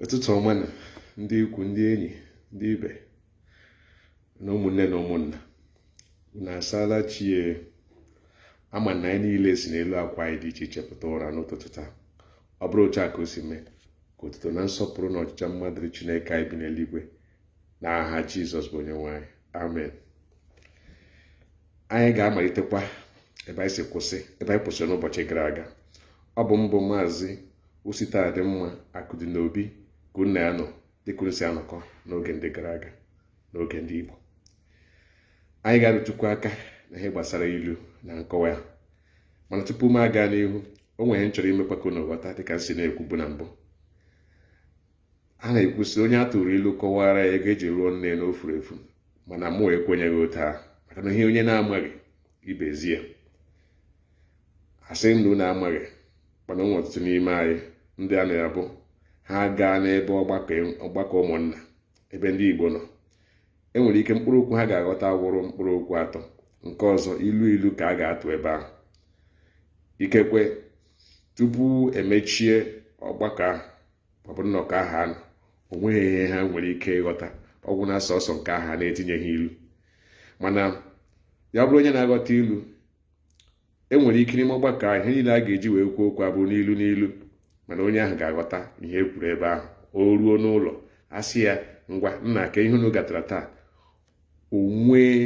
ụtụtụ ọma na ndị ikwu ndị enyi ndị ibe na ụmụnne na ụmụnna na asaala chi e ama m na anyị niile si n'elu akwa anyị dị iche iche pụta ụra n'ụtụtụ taa ọ bụrụ otu a ka o si mee ka otuto na nsọpụrụ na ọjịja mma dịrị Chineke anyị bi n'eluigwe n'aha Jizọs bụ onye nwe anyị amen anyị ga-amalitekwa ebe anyị kwụsịrị n'ụbọchị gara aga ọ bụ mụ bụ maazị Ositadịmma Akụdịnobi ka unu na ya nọ dịka unu si anọkọ n'oge ndị gara aga n'oge ndị Igbo anyị ga-arụtụkwu aka na ihe gbasara ilu na nkọwa ya mana tupu m aga n'ihu o nwere ihe m chọrọ imekwa ka unu ghọta dịka m si na-ekwubu na mbụ a na-ekwu sị onye a tụrụ ilu kọwara ya ego e ji lụọ nne na o furu efu mana mụ ekwenyeghị otu ahụ maka na ihe onye na-amaghị ibe ezie ya a sị ndị na-amaghị mana ụmụ ọtụtụ n'ime anyị ndị a na-abụ ha gaa n'ebe ọgbakọ ụmụnna ebe ndị Igbo nọ e nwere ike mkpụrụ okwu ha ga-aghọta wụrụ mkpụrụ okwu atọ nke ọzọ ilu ilu ka a ga-atụ ebe ahụ ikekwe tupu e mechie ọgbakọ ahụ ọ bụ nnọkọ ahụ ha nọ o nweghị ihe ha nwere ike ịghọta ọ gwụ na sọsọ nke ahụ a na-etinyeghị ilu mana ya bụrụ onye na-aghọta ilu e nwere ike n'ime ọgbakọ ahụ ihe niile a ga-eji wee kwuo okwu abụrụ n'ilu n'ilu mana onye ahụ ga-aghọta ihe e kwuru ebe ahụ o ruo n'ụlọ a sị ya ngwa nna kee ihe unu gatara taa o nwee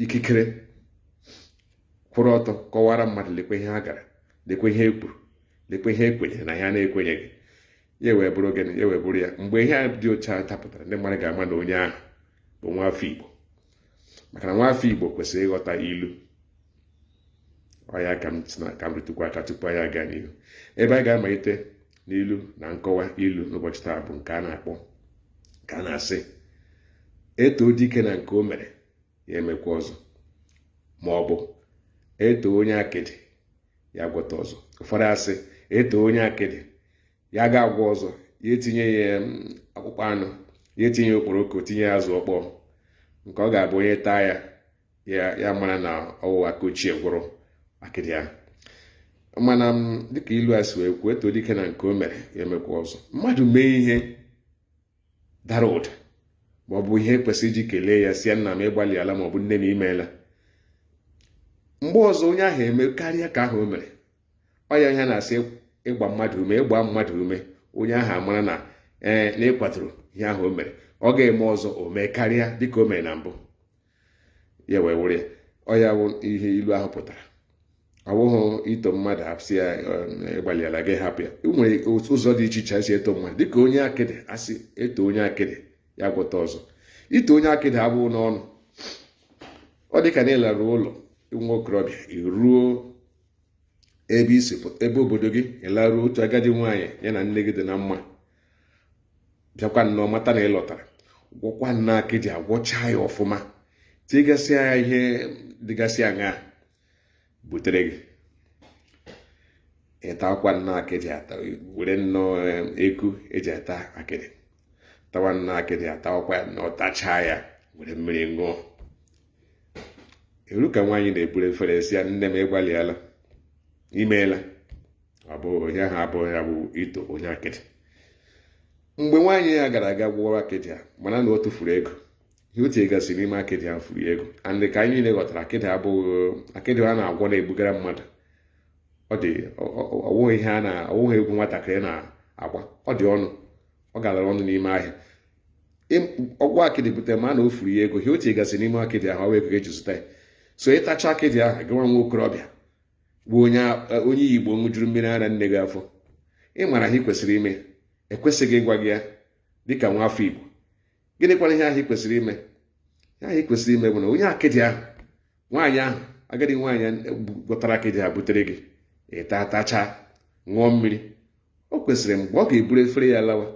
ikikere kwụrụ ọtọ kọwara mmadụ lekwe ihe ha gara lekwe ihe e kwuru lekwe ihe e kwenyere na ihe a na-ekwenyeghị ya wee bụrụ gịnị ya wee bụrụ ya mgbe ihe a dị otu a dapụtara ndị mmadụ ga-ama na onye ahụ bụ nwa afọ Igbo maka na nwa afọ Igbo kwesịrị ịghọta ilu ọ ya ka m ka m rụtụkwa aka tupu anyị aga n'ihu ebe a ga-amalite n'ilu na nkọwa ilu n'ụbọchị taa bụ nke a na-akpọ nke a na-asị e too dike na nke o mere ya emekwa ọzọ ma ọ bụ e too onye akịdị ya gwọta ọzọ ụfọdụ asị e too onye akịdị ya ga-agwọ ọzọ ya etinye ya akpụkpọ anụ ya etinye okporoko tinye azụ ọkpọọ nke ọ ga-abụ onye taa ya ya amara na ọ wụ aka ochie gwọrọ akịdị ya mana mm, dịka ilu a si wee kwuo e too dike na nke o mere ya emekwa ọzọ mmadụ mee ihe dara ụda ma ọ bụ ihe kwesịrị iji kelee ya sị ya nna m ị gbalịala ma ọ bụ nne m i meela mgbe ọzọ onye ahụ emekarịa nke ahụ o mere ọ ya ihe a na-asị ịgba mmadụ ume ịgba mmadụ ume onye ahụ amara na ee eh, na ị kwadoro ihe ahụ o mere ọ ga-eme ọzọ o mee karịa dịka o mere na mbụ ya wee wụrụ ya ọ ya wụ ihe ilu ahụ pụtara ọ bụghị ito mmadụ ahụ sị ya ị gbalịala gị hapụ ya e nwere ụzọ dị iche iche e si eto mmadụ dịka onye akịdị a sị e too onye akịdị ya gwọta ọzọ ito onye akịdị abụghị n'ọnụ ọ dị ka na ị laruo ụlọ nwa okorobịa i ruo ebe i si ebe obodo gị ị laruo otu agadi nwaanyị ya na nne gị dị na mma bịakwa nnọọ mata na ị lọtara gwọkwa nnọọ akịdị agwọcha ya ọfụma tigasịa ya ihe dịgasị aṅaa butere gị ị takwa nnọọ akịdị ata were nnọọ eh, eku e ji ata akịdị tawa nnọọ akịdị atawakwa ya nnọọ tachaa ya were mmiri ṅụọ eru ka nwaanyị na-eburu efere sị ya nne m ị gbalịala i meela ọ bụ ihe ahụ abụghị ya bụ ito onye akịdị mgbe nwaanyị a gara aga gwọrọ akịdị a mana na ọ tụfuru ego ihe o tinyegasị n'ime akịdị ahụ furu ego and dịka anyị niile ghọtara akịdị abụghị akịdị a na-agwọ na-ebugara mmadụ ọ dị ọ wụghị ihe a na-awụghị egwu nwatakịrị na-agba ọ dị ọnụ ọ galara ọnụ n'ime ahịa ọ gwọọ akịdị butere ma na o furu ya ego ihe o tinyegasị n'ime akịdị ahụ ọ wụ ego ka e ji zụta ya so ị tachaa akịdị ahụ gịnwa nwa okorobịa bụ onye onye igbo ṅụjuru mmiri ara nne gị afọ ị mara ihe ị kwesịrị ime e kwesịghị ịgwa gị ya dịka nwa afọ igbo gịnịkwana ihe ahụ ị kwesịrị ime ihe ahụ ị kwesịrị ime bụ na onye akịdị ahụ nwaanyị ahụ agadi nwaanyị gwọtara akịdị ahụ butere gị ị taa tachaa ṅụọ mmiri o kwesịrị mgbe ọ ga-eburu efere ya lawa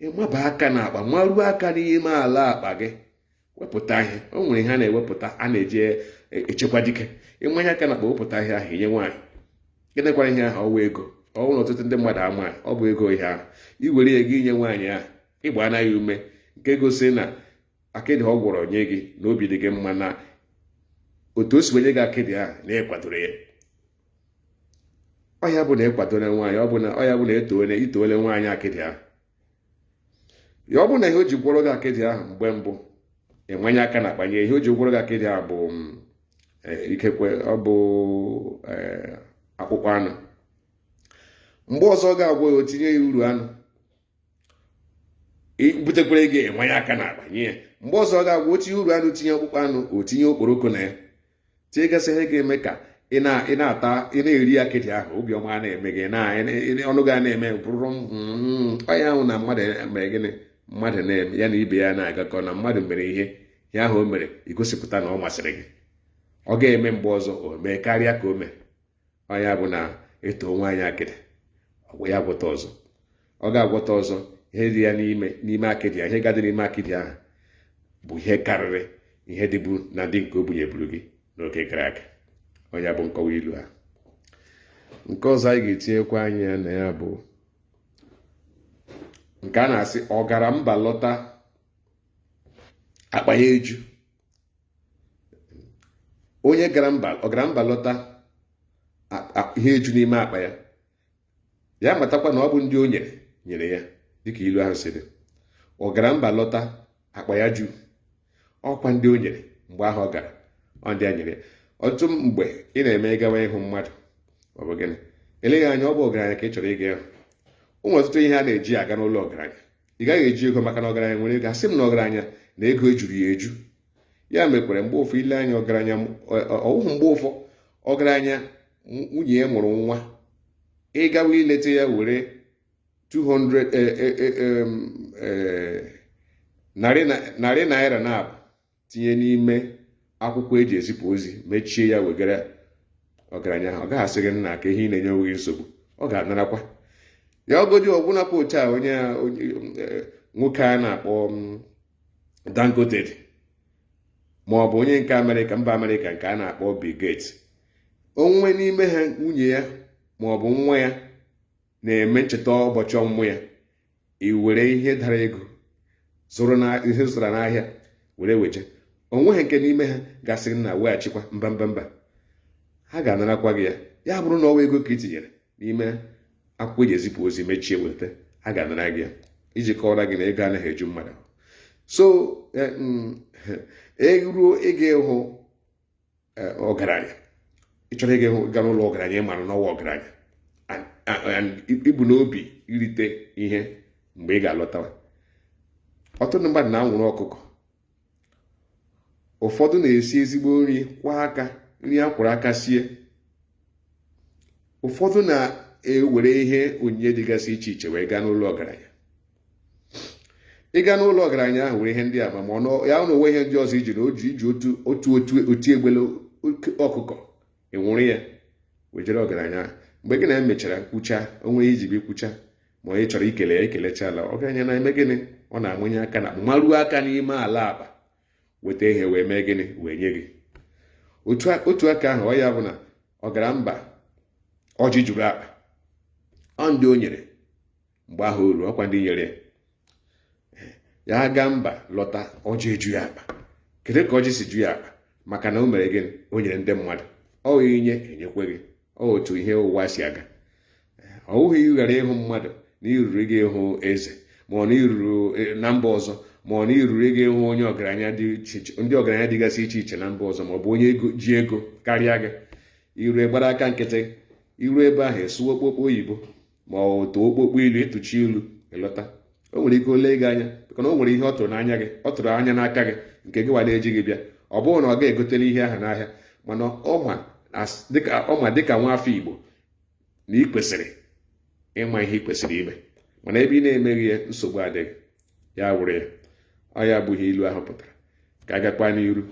ị maba aka n'akpa maruo aka n'ime ala akpa gị wepụta ihe o nwere ihe a na-ewepụta a na-eji echekwa dike ị manye aka n'akpa wepụta ihe ahụ i nye nwaanyị gịnịkwara ihe ahụ ọ wụ ego ọ bụrụ na ọtụtụ ndị mmadụ amaghị ọ bụ ego ihe ahụ i were ya gị inye nwaanyị ahụ ị gbaana ya ume nke gosi na akịdị ọ gwọrọ nye gị na obi dị gị mma na otu o si wenye gị akịdị ahụ na ị kwadoro ya ọ ya bụ na ị kwadoro nwaanyị ọ bụ na ọ ya bụ na e toole i toole nwaanyị akịdị ahụ ya ọ bụrụ na ihe o ji gwọrọ gị akịdị ahụ mgbe mbụ ị manye aka n'akpa nye ihe o ji gwọrọ gị akịdị ahụ bụ mm, eh, ikekwe ọ bụ eh, akpụkpọ anụ mgbe ọzọ ọ ga-agwọ ya o tinye ya uru anụ butekwere gị ị manye aka n'akpa nye ya mgbe ọzọ ọ ga-agwọ o tinye uru anụ tinye akpụkpọ anụ o tinye okporoko na ya tinyegasị ihe ga-eme ka ị na-ata ị na-eri akịdị ahụ obiọma a na-eme gị ọnụ gị a na-eme bụrụ hmm, ọ ya wụ na mmadụ mere gịnị mmadụ na-eme ya na ibe ya na-agakọ na mmadụ mere ihe ihe ahụ o mere i gosipụta na ọ masịrị gị ọ ga-eme mgbe ọzọ o mee karịa ka o mee ọ nya bụ na e too nwaanyị akịdị ọ gwọrọ ya agwọta ọzọ ọ ga-agwọta ọzọ ihe dị ya n'ime n'ime akịdị ya ihe ga-adị n'ime akịdị ahụ bụ ihe karịrị ihe dịbu na ndị nke o bunyeburu gị n'oge gara aga ọ nya bụ nkọwa ilu a nke ọzọ anyị ga-etinyekwa anya na ya bụ nke a na-asị ọ gara mba lọta akpa ya eju onye ọ gara mba lọta ihe eju n'ime akpa ya ya matakwa na ọ bụ ndị o nyere nyere ya dịka ilu ahụ sịrị ọ gara mba lọta akpa ya ju ọkwa ndị o nyere mgbe ahụ ọ gara ọ ndị a nyere ya ọtụtụ mgbe ị na-eme gawa ịhụ mmadụ ọ bụ gịnị eleghị anya ọ bụ ọgaranya ka ị chọrọ ịga ịhụ o nwe ọtụtụ ihe a na-eji aga n'ụlọ ọgaranya ị gaghị eji ego maka na ọgaranya nwere ego asị m na ọgaranya na ego ejuru ya eju ya mekwara mgbe ụfọ eleghị anya ọgaranya ọ wụhụ mgbe ụfọ ọgaranya nwunye ya mụrụ nwa ị gawa ileta ya were 200 eh, eh, eh, narị naira naabọ tinye n'ime akwụkwọ eji ezipụ ozi mechie ya wegara ọgaranya ahụ ọ gaghị asị gị nna ka ihe ị na-enye onwe gị nsogbu ọ ga-anarakwa ya ọ godi ọbụnakwa otu a onye eh, nwoke a na-akpọ mm, Dangote ma ọ bụ onye nke amerịka mba amerịka nke a na-akpọ Bill Gates o nwe n'ime ha nwunye ya ma ọ bụ nwa ya na-eme ncheta ụbọchị ọmụmụ ya i were ihe dara ego ihe ị zụtara n'ahịa were weje o nweghị nke n'ime ha ga-asị nna weghachikwa mba mba mba ha ga-anarakwa gị ya ya bụrụ na ọ wa ego ka i tinyere n'ime akwụkwọ eji ezipụ ozi mechie weta ha ga-anara gị ya iji kọwara gị na ego anaghị eju mmadụ so eh, mm, eruo ịga ịhụ eh, ọgaranya ị chọrọ ịga n'ụlọ ọgaranya ị mara na ọ wa ọgaranya And- and i bu n'obi irite ihe mgbe ị ga-alọtawa ọtụtụ ndị mmadụ na-anwụrụ ọkụkọ ụfọdụ na-esi ezigbo nri kwọ aka nri a kwọrọ aka sie ụfọdụ na-ewere ihe onyinye dịgasị iche iche wee gaa n'ụlọ ọgaranya ị gaa n'ụlọ ọgaranya ahụ were ihe ndị a ma ọ ya na o nwe ihe ndị ọzọ i ji na o ji i ji otu otu otu oti egbele ọkụkọ ị nwụrụ ya wejere ọgaranya ahụ mgbe gị na ya mechara kwucha o nwe ihe i ji bịa kwucha ma onye chọrọ ikele ya ekelecha ala ọgaranya na-eme gịnị ọ na-amanye aka na maruo aka n'ime ala akpa weta ihe wee mee gịnị wee nye gị otu aka ahụ ọ ya bụ na ọ gara mba ọjị juru akpa ọ ndị o nyere mgbe ahụ uru ọkwa ndị nyere ya ya gaa mba lọta ọjị eju ya akpa kedu ka ọjị si ju ya akpa maka na o mere gịnị o nyere ndị mmadụ ọ ị nye enyekwe gị ọ otu ihe ụwa si aga ọ wụghị ị gara ịhụ mmadụ na iruru gị ịhụ eze ma ọ na iruru e, na mba ọzọ ma ọ na iruru gị ịhụ onye ọgaranya dị iche iche ndị ọgaranya dịgasị iche iche na mba ọzọ ma ọ bụ onye ji ego karịa gị i ru gbara aka nkịtị i ru ebe ahụ esuwe okpokpo oyibo ma ọ tụọ okpokpo ilu ị tụchaa ilu ị lọta o nwere ike o lee gị anya maka na o nwere ihe ọ tụrụ n'anya gị ọ tụrụ anya n'aka gị nke gị wa na-ejighị bịa ọ bụghị na ọ gaghị egoteli ihe ahụ n'ahịa mana ọ ma dịka nwa afọ igbo na ị kwesịrị ịma ihe ị kwesịrị ime mana ebe ị na-emeghị ya nsogbu adịghị ya wụrụ ya ọ ya bụ ihe ilu ahụ pụtara ka a gakwa n'iru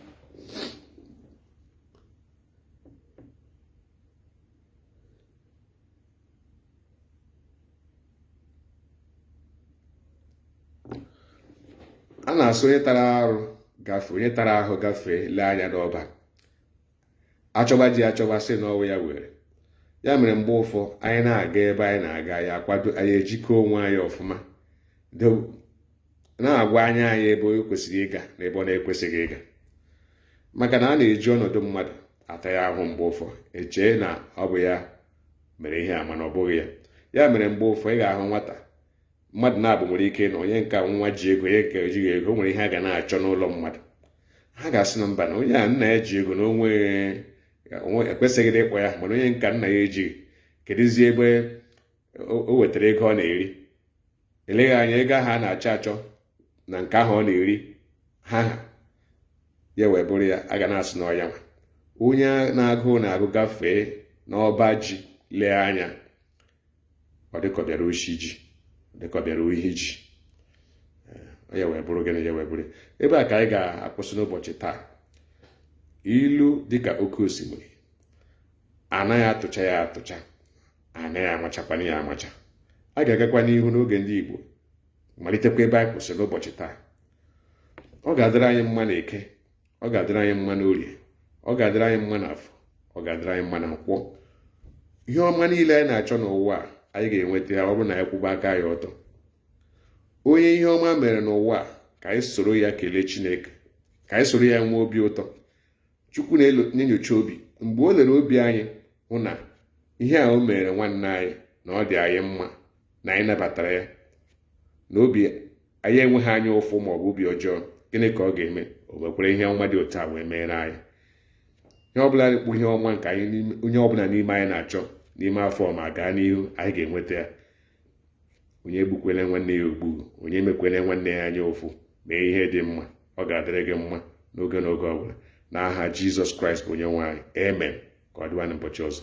a na-asị onye tara arụ gafee onye tara ahụ gafee lee anya n'ọba achọba ji achọba sị na ọ wụ ya were ya mere mgbe ụfọ anyị na-aga ebe anyị na-aga anyị akwado anyị ejike onwe anyị ọfụma na-agwa anya anyị ebe o kwesịrị ịga na ebe ọ na-ekwesịghị ịga maka na a na-eji ọnọdụ mmadụ ata ya ahụ mgbe ụfọ echee na ọ bụ ya mere ihe a mana ọ bụghị ya ya mere mgbe ụfọ ị ga-ahụ nwata mmadụ naabọ nwere ike na onye nka nwa ji ego onye nke ejighị ego o nwere ihe a ga na-achọ n'ụlọ mmadụ ha ga-asị na mba na onye a nna ya ji ego na onwe ekwesịghị ịkpọ ya mana onye nka nna ya ejighị kedụzie ebe o wetara ego ọ na-eri eleghị anya ego ahụ a na-achọ achọ na nke ahụ ọ na-eri ha ha ya wee bụrụ ya a ga na-asị na ọ ya nwa onye na agụụ na-agụ gafee n'ọba ji lee anya ọ dịka ọ bịara oshi ji dịka ọ bịara ohi ji eh, ya wee bụrụ gịnị ya wee bụrụ ebe a ka anyị ga-akwụsị n'ụbọchị taa ilu dịka oke osimiri anaghị atụcha ya atụcha a naghị amachakwanụ ya amacha a ga-agakwa n'ihu n'oge ndị Igbo malitekwa ebe anyị kwụsịrị n'ụbọchị taa ọ ga-adịrị anyị mma na eke ọ ga-adịrị anyị mma na orie ọ ga-adịrị anyị mma na afọ ọ ga-adịrị anyị mma na nkwọ ihe ọma niile anyị na-achọ n'ụwa a anyị ga-enweta ya ọ bụrụ na anyị kwụba aka ya ọtọ onye ihe ọma mere n'ụwa a ka anyị soro ya kelee Chineke ka anyị soro ya nwee obi ụtọ chukwu na-enyocha obi mgbe o lere obi anyị hụ na ihe a o mere nwanne anyị na ọ dị anyị mma na anyị nabatara ya na obi anyị enweghị anya ụfụ ma ọ bụ obi ọjọọ gịnị ka ọ ga-eme o mekwere ihe ọma dị otu a wee meere anyị ihe ọbụla dịkpụ ihe ọma nke anyị onye ọbụla n'ime anyị na-achọ n'ime afọ ma gaa n'ihu anyị ga-enweta ya onye egbukwele nwanne ya ogbu onye emekwele nwanne ya anya ụfụ mee ihe dị mma ọ ga-adịrị gị mma n'oge n'oge ọ bụla n'aha Jizọs Kraịst bụ onye nwe anyị amen ka ọ dịwa n'ụbọchị ọzọ